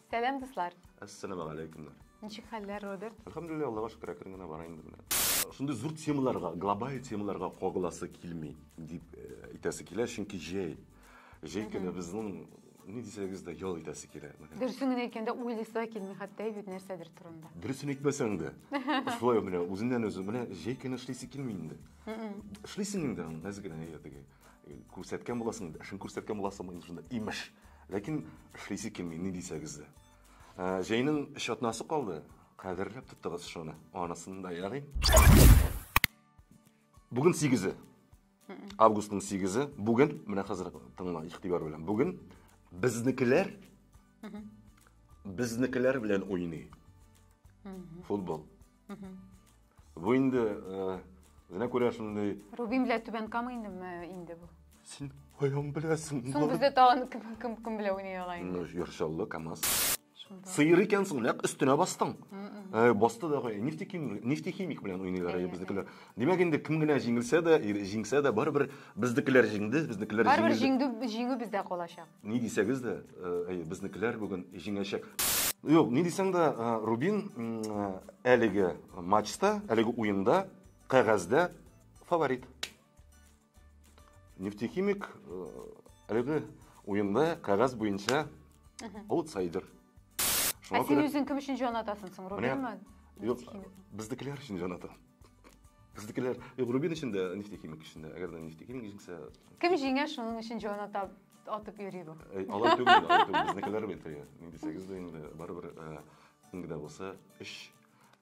Сәлам, дуслар. Ассаламу алейкумнар. Ничек хәлләр, Роберт? Әлхәмдулилла, Аллага шөкер, әкрен генә бара инде менә. Шундый зур темаларга, глобаль темаларга кагыласы килми, дип э, әйтәсе килә, чөнки җәй. Җәй көне безнең ни дисәгез дә ял итәсе килә. Менә. Дөресен генә әйткәндә, уйлыйсы да килми хәтта бит нәрсәдер турында. Дөресен әйтмәсәң дә. Шулай менә үзеннән үзе менә җәй көне эшлисе килми инде. Эшлисең инде, нәзек генә әйе, теге. Күрсәткән буласың, эшен күрсәткән буласың, шунда имеш. Ләкин эшлисе килми, ни дисәгез дә. Ә, җәйнең эш атнасы калды. Кадерләп тоттыгыз шуны. Анысын да ярый. Бүген 8 августның 8 бүген, менә хәзер тыңла, игътибар белән. Бүген безнекеләр безнекеләр белән уйный. Футбол. Бу инде үзенә э, күрә шундый. Рубин белән Түбән Кама инде инде бу. Син каян беләсең? Соң бездә тагын кем кем кем белән уйный ала инде. Яршаллы КАМАЗ. Сыйыр икәнсең, нәкъ өстенә бастың. Э, басты да кой. Нефтехимик, нефтехимик белән уйныйлар безнекеләр. Димәк инде кем генә җиңелсә дә, җиңсә дә барыбер безнекеләр җиңде, безнекеләр җиңде. Барыбер җиңде, җиңү бездә калачак. Ни дисәгез дә, әйе, безнекеләр бүген җиңәчәк. Юк, ни дисәң дә, Рубин әлеге матчта, әлеге уенда, кәгазьдә фаворит. Нефтехимик әлеге уенда кәгазь буенча аутсайдер. Ә син үзең кем өчен җан атасың соң, Рубинмы? Юк, безнекеләр өчен җан атам. Бездекеләр Рубин өчен дә, нефтехимик өчен дә. Әгәр дә нефтехимик җиңсә, Кем җиңә, шуның өчен җан атап, атып йөри бу. Әй, алай түгел, алай түгел. Безнекеләр бит теге. Нинди сигез дә инде барыбер э, кемгә дә булса өч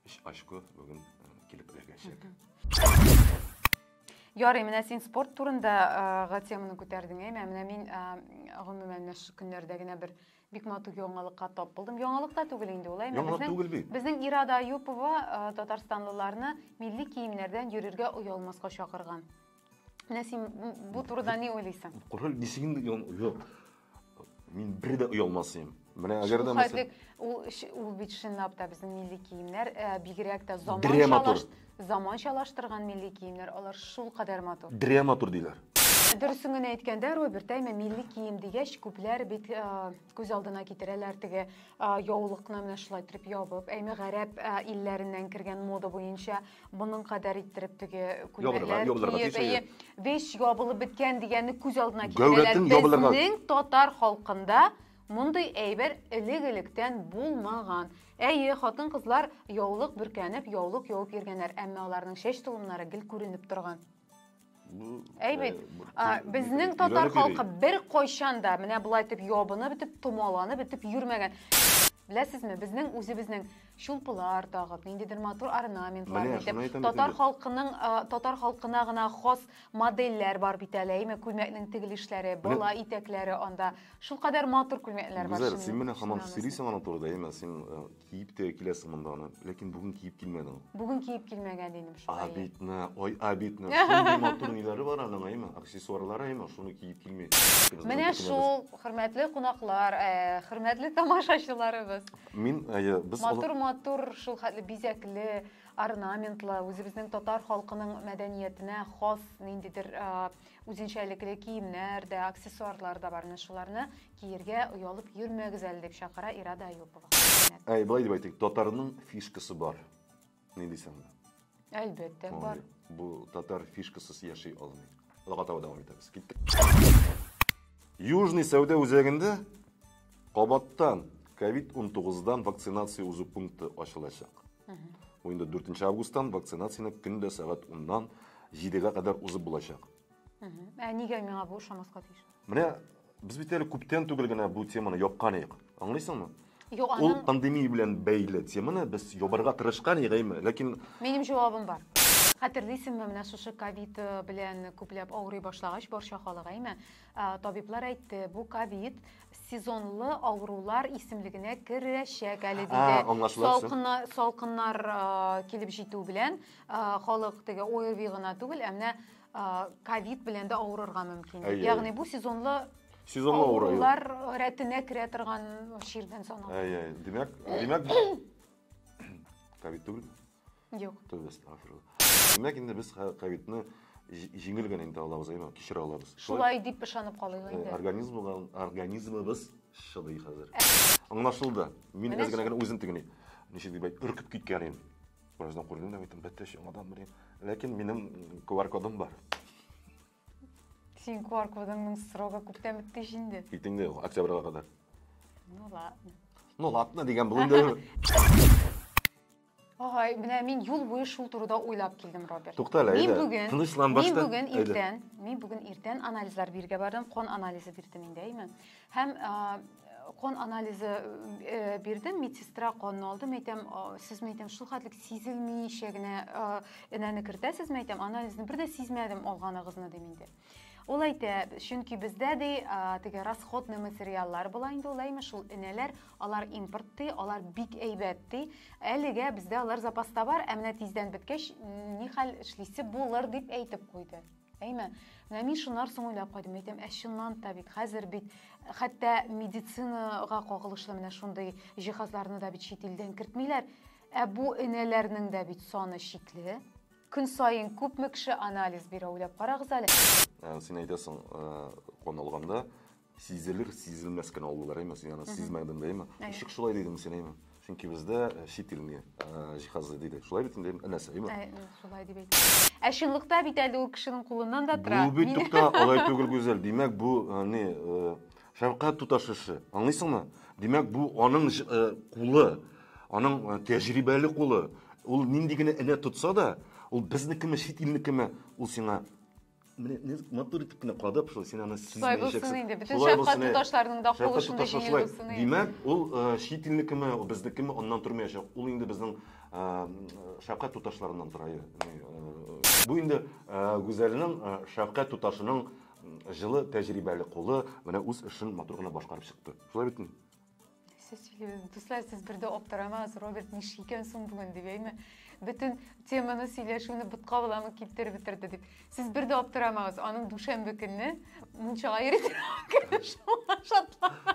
өч очко бүген э, килеп эләгәчәк. Ярый, менә син спорт турында э, га теманы күтәрдең, әй, менә менә мин э, гомумән менә шушы көннәрдә генә бер Бик матур яңалыкка тап булдым. Яңалык та түгел инде ул, әйме? Яңалык Безнең- түгел бит. Безнең Ирада Аюпова э, татарстанлыларны милли киемнәрдән йөрергә оялмаска чакырган. Менә син м, бу турыда ни уйлыйсың? Король ничек инде ян- юк. Мин бер дә оялмасыйм. Менә әгәр дә мәсәлән, Шулхәтлек ул ш- ул бит чынлап та безнең милли киемнәр, э, бигрәк тә заманчалаш. драматург. Заманчалаштырган милли киемнәр алар шулкадәр матур. Дрә матур диләр. Дөресен генә әйткәндә, Роберт, әйме милли кием дигәч, күпләр бит э, күз алдына китерәләр теге э, яулыкны менә шулай итеп ябып, әйме гарәп э, илләреннән кергән мода буенча моның кадәр иттереп теге күлмәкләр киеп, вещь ябылып беткән дигәнне күз алдына китерәләр. Безнең татар халкында мондый әйбер элек-электән булмаган. Әйе, хатын-кызлар яулык бөркәнеп, яулык явып йөргәннәр, әмма аларның чәч толымнары гел күренеп торган. Әй бит, безнең татар халкы бер кайчан да менә болай итеп ябынып бетеп, томаланып бетеп йөрмәгән. Беләсезме, безнең үзебезнең чулпылар тагып, ниндидер матур орнаментлар итеп, татар халкының татар халкына гына хас модельләр бар бит әле, әйме, күлмәкнең тегелешләре, бала итәкләре анда Шулкадәр матур күлмәкләр бар. Гүзәл, син менә һаман сөйлисең аның турыда, әйме? Син киеп тә киләсең монда аны, ләкин бүген киеп килмәдең. Бүген киеп килмәгән дидем шул. Обидно, ой, обидно. Шундый матур ниләре бар аның, әйме? Аксессуарлары, әйме? Шуны киеп килми. Менә шул, хөрмәтле кунаклар, хөрмәтле тамашачыларыбыз. Мин, әйе, без Матур-матур, шул хәтле бизәкле, орнаментлы, үзебезнең татар халкының мәдәниятенә хас ниндидер Үзенчәлекле киемнәр дә, аксессуарлар да бар. Менә шуларны киергә оялып йөрмәгез әле, дип чакыра Ирада Аюпова. Әй, болай дип әйтик, татарның фишкасы бар. Ни дисең? Әлбәттә, бар. Бу татар фишкасыз яши алмый. Логотау дәвам итәбез. Киттек. Южный сәүдә үзәгендә Кабаттан COVID-19 дан вакцинация узу пункты ачылачак. Бу инде 4 августтан вакцинацияне көн дә сәгать 10-нан 7-гә кадәр узып булачак. Ә нигә миңа бу ошамаска тиеш? Менә без бит әле күптән түгел генә бу теманы япкан идек. Аңлыйсыңмы? Юк, Ул аның пандемия белән бәйле теманы без ябарга тырышкан идек, әйме? Ләкин минем җавабым бар. Хәтерлисеңме, менә шушы ковид э, белән күпләп авырый башлагач, барча халык, әйме, Ә, табиблар әйтте, бу ковид сезонлы авырулар исемлегенә керәчәк әле Ә, диде. аңлашыла, всё. Салкына, салкыннар а, килеп җитү белән а, халык теге ОРВИ гына түгел, ә менә а, ковид белән дә авырырга мөмкин. Әйе, Ягъни әйе. бу сезонлы Сезонлы авыру. юк. авырулар рәтенә керә торган чирдән санала. Әй, әй, димәк, димәк, ковид түгел. Юк. Тәүбә әстәгфирулла. Димәк, инде без ковидны җиңел генә инде алабыз, әйме, кичерә алабыз. Шулай дип ышанып калыйк инде. Организмга, организмыбыз шыдый хәзер. Аңлашылды. Мин без генә генә үзем тегени. Ничек дип әйт, өркеп киткән идем. Бераздан күрдем дә әйттем, бәттәш яңадан бер. Ләкин минем QR кодым бар. Син QR кодыңның срогы күптән бетте инде. Китеңдә, октябрьга кадәр. Ну ладно. Ну ладно дигән бүгендә. Агай, менә мин юл буе шул турыда уйлап килдем, Роберт. Тукта әле, Мин әйдә, бүген, тынычлан башта. мин бүген Әйдә. иртән, мин бүген иртән анализлар биргә бардым, кон анализы бирдем инде, әйме? Һәм а, кон анализы э, бирдем, медсестра конны алды, мин әйтәм, а, сез мин әйтәм, шул хәтлек сизелмичә генә а, энәне кертәсез, мин әйтәм, анализны бер дә сизмәдем алганыгызны, дим инде. Ул әйтә, чөнки бездә ди теге расходный материаллар була инде ул әйме шул энәләр, алар импорт ди, алар бик әйбәт ди. Әлегә бездә алар запаста бар, ә менә тиздән беткәч ни хәл эшлисе булыр дип әйтеп куйды. Әйме, менә мин шуннар соң уйлап кайдым, әйтәм, ә чыннан да бит хәзер бит хәтта медицинага кагылышлы менә шундый җиһазларны да бит чит илдән кертмиләр. Ә бу энәләрнең дә бит саны чикле. Көн саен күпме кеше анализ бирә, уйлап карагыз әле. Ә, син әйтәсең, кан э, алганда сизелер, сизелмәс кенә алулар, әйме, син аны сизмәдең дә, әйме? Ничек шулай дидең син, әйме? Чөнки бездә э, чит илне э, җиһазы диде. Шулай бит инде, энәсе, әйме? Ә, шулай дип әйтте. Ә чынлыкта бит әле ул кешенең кулыннан да тора. Бу бит тукта, алай түгел, Гүзәл. Димәк, бу не Шәфкать туташ эше. Аңлыйсыңмы? Димәк, бу аның э, кулы, аның э, тәҗрибәле кулы. Ул нинди генә энә тотса да, ул безнекеме, чит илнекеме, ул сиңа менә не матур итеп кенә кадап шул син аны шулай булсын инде бөтен шәфкать туташларның да кулы шундый җиңел булсын димәк ул чит илнекеме безнекеме аннан тормаячак ул инде безнең шәфкать туташларыннан тора бу инде гүзәлнең шәфкать туташының җылы, тәҗрибәле кулы менә үз эшен матур гына башкарып чыкты. Шулай бит инде. Сез сөйләгез, дуслар, сез бер дә аптырамагыз, Роберт нишли икән соң бүген дип әйме? Бөтен теманы сөйләшүне бутка буламы китереп бетерде дип. Сез бер дә аптырамагыз, аның дүшәмбе көнне мунчага йөрү шатлана.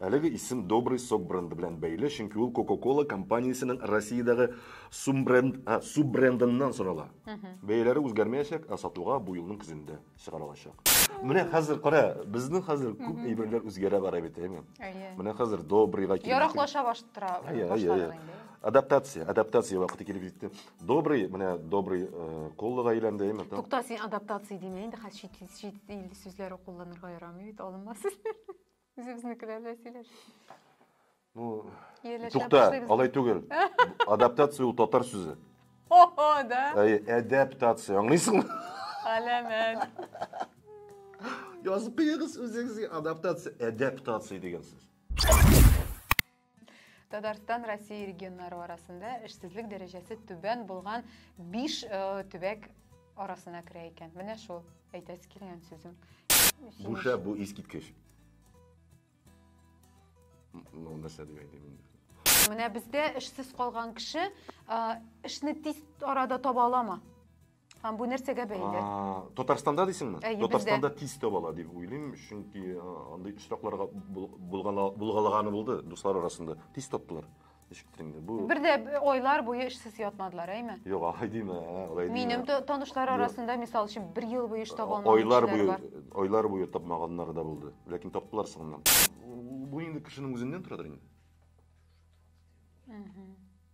Әлеге исем Добрый сок бренды белән бәйле, чөнки ул Coca-Cola компаниясенең Россиядәге суббренд, а, суббрендыннан сорала. Бәяләре үзгәрмәячәк, ә сатуга бу елның көзендә чыгарылачак. Менә хәзер кара, безнең хәзер күп әйберләр үзгәрә бара бит, әйеме? Әйе. Менә хәзер Добрыйга килеп. Яраклаша баштыра. Әйе, әйе, әйе. Адаптация, адаптация вакыты килеп җитте. Добрый, менә добрый э, коллыга әйләнде, әйме? Тукта, син адаптация димә инде, хәзер чит, чит ил сүзләре кулланырга ярамый бит, алынма сүзләр. Үзебезнекеләр белән сөйләш. Ну, тукта, алай түгел. Адаптация ул татар сүзе. О, да? Әй, адаптация, аңлыйсыңмы? Әләмәт. Язып куегыз үзегезгә адаптация, адаптация дигән сүз. Татарстан Россия регионнары арасында эшсезлек дәрәҗәсе түбән булган 5 э, төбәк арасына керә икән. Менә шул әйтәсе килгән сүзем. Буша бу искиткеч. Ну, нәрсә дип әйтим инде. Менә бездә эшсез калган кеше э, эшне тиз арада таба аламы? Һәм бу нәрсәгә бәйле? Татарстанда дисеңме? Ә, Татарстанда тиз табала дип уйлыйм, чөнки андый очракларга булгалаганы булды дуслар арасында. Тиз таптылар. Ишектеңдә. Бу Бер дә айлар буе эшсез ятмадылар, әйме? Юк, алай димә, алай димә. Минем танышлар арасында, мисал өчен, бер ел буе эш таба алмаган Айлар буе, айлар буе тапмаганнар да булды. Ләкин таптылар соңыннан. Бу инде кешенең үзеннән торадыр инде.